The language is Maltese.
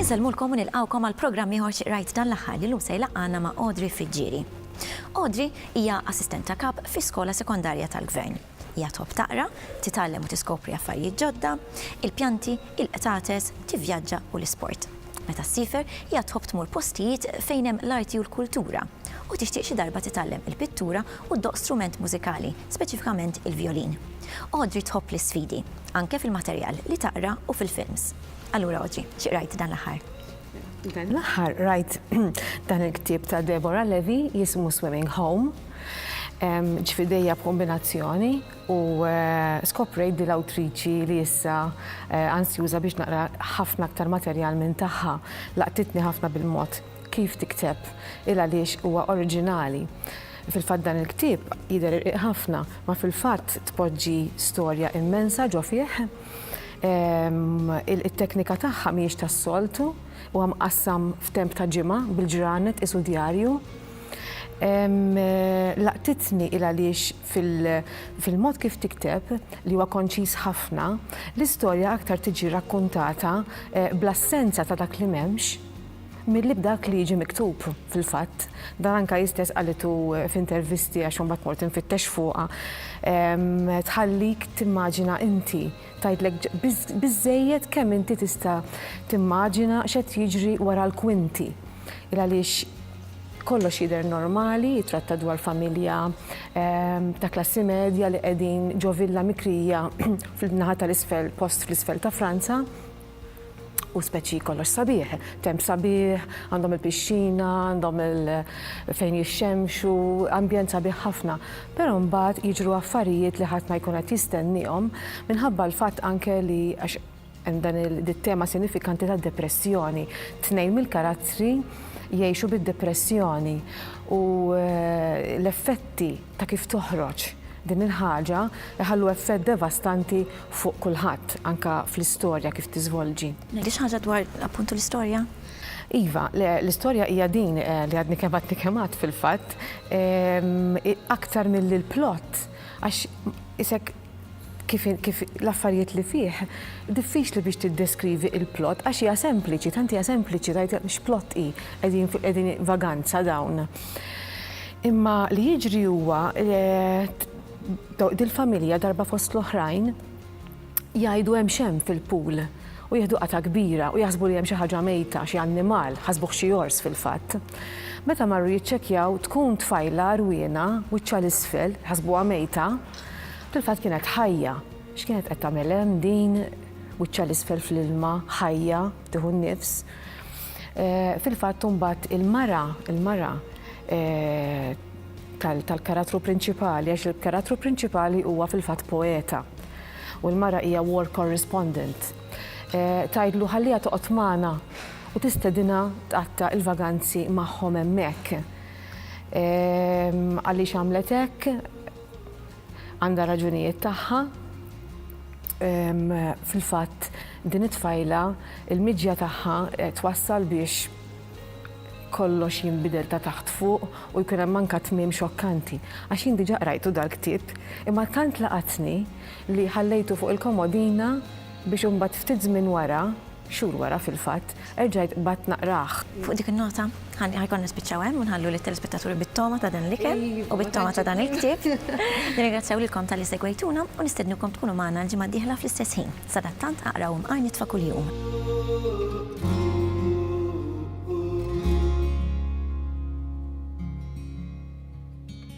Insellmulkom u nilqgħukom għal programm ieħor xi qrajt dan l-aħħar li llum se jlaqqagħna ma' Audrey Friggieri. Audrey hija Assistent ta' Kap fi Skola Sekondarja tal-Gvern. Hija tħobb taqra, titgħallem u tiskopri affarijiet ġodda, il-pjanti, il-qtates, tivvjaġġa u l-isport. Meta ssiefer, hija tħobb tmur postijiet fejn hemm l-arti u l-kultura, u tixtieq xi darba titgħallem il-pittura u ddoqq strument mużikali, speċifikament il-vjolin. Audrey tħobb l-isfidi, anke fil-materjal li taqra u fil-films. Allura Audrey, xi qrajt dan l-aħħar? Dan l-aħħar rajt dan il-ktieb ta' Deborah Levy jismu Swimming Home, ġfidejja b'kombinazzjoni u eh, skoprejt di l-awtriċi li issa eh, ansjuża biex naqra ħafna aktar materjal minn tagħha laqtitni ħafna bil-mod kif tikteb il għaliex huwa oriġinali. Fil-fatt dan il-ktieb jidher ħafna, ma fil-fatt tpoġġi storja immensa ġo fih It-teknika tagħha mhijiex tas-soltu, huwa mqassam f'temp ta' ġimgħa bil-ġranet qisu djarju. Laqtitni il għaliex fil-mod kif tikteb, li huwa konċiż ħafna, l-istorja aktar tiġi rakkuntata bl-assenza ta' dak li m'hemmx, Milli b'dak li jiġi miktub, fil-fatt. Dan anke hi stess qalitu f'intervisti għax imbagħad mort infittex fuqha. Tħallik timmaġina inti, tgħidlek biżżejjed kemm inti tista' timmaġina x'qed jiġri wara l-kwinti. Il għaliex kollox jidher normali, jitratta dwar familja ta' klassi medja li qegħdin ġo villa mikrija fil-naħa tal-isfel, post fl-isfel ta' Franza. Hu speċi kollox sabiħ, temp sabiħ, għandhom il-pixxina, għandhom fejn jixxemxu, ambjent sabiħ ħafna. Però mbagħad jiġru affarijiet li ħadd ma jkun qed jistenniehom minħabba l-fatt anke li għax hemm dan it-tema sinifikanti tad-depressjoni. Tnejn mill-karattri jgħixu bid-depressjoni u eh, l-effetti ta' kif toħroġ din il-ħaġa jħallu effett devastanti fuq kulħadd, anke fl-istorja kif tiżvolġi. Ngħidli xi ħaġa dwar appuntu l-istorja? Iva, l-istorja hija din li għadni kemm għadni kemm għadt fil-fatt, aktar milli l-plot għax isek, kif kif l-affarijiet li fih diffiċli biex tiddeskrivi il-plot għax hija sempliċi, tant hija sempliċi tgħid x'plot hi qegħdin qegħdin vaganza dawn. Imma li jiġri huwa dil-familja darba fost l-oħrajn jgħidu hemm x'hemm fil-pool u jieħdu qata' kbira u jaħsbu li hemm xi ħaġa mejta, xi annimal, ħasbuh xi ors fil-fatt. Meta marru jiċċekkjaw tkun tfajla rwiena wiċċha l-isfel, ħasbuha mejta, Fil-fatt kienet ħajja. X'kienet qed tagħmel hemm din? Wiċċha l-isfel fl-ilma, ħajja, tieħu n-nifs. Eh, fil-fatt imbagħad il-mara, il-mara eh, tal-karattru prinċipali, għax il-karattru prinċipali huwa fil-fatt poeta. U l-mara hija war correspondent. Eh, tajdlu ħallija toqgħod magħna u tistedina tqatta il-vaganzi magħhom hemmhekk. Ehm, għaliex għamlet hekk? Għandha raġunijiet tagħha. Fil-fatt din it-tfajla il-miġja tagħha twassal biex kollox jinbidel ta' taħt fuq u jkun hemm anka tmiem xokkanti. Għax jien diġà qrajtu dal-ktieb, imma tant laqatni li ħallejtu fuq il-komodina biex imbagħad ftit żmien wara Xhur wara, fil-fatt, erġajt qbadt naqrah. Fuq dik in-nota, ħa jkollna nispiċċaw hemm u nħallu lit-telespettaturi bit-togħma ta' dan l-ikel u bit-togħma ta' dan il-ktieb. Nirringrazzjaw lilkom talli segwejtuna u nistednukom tkunu magħna l-ġimgħa d-dieħla fl-istess ħin. Sadattant aqra u mqar nitfa' kuljum.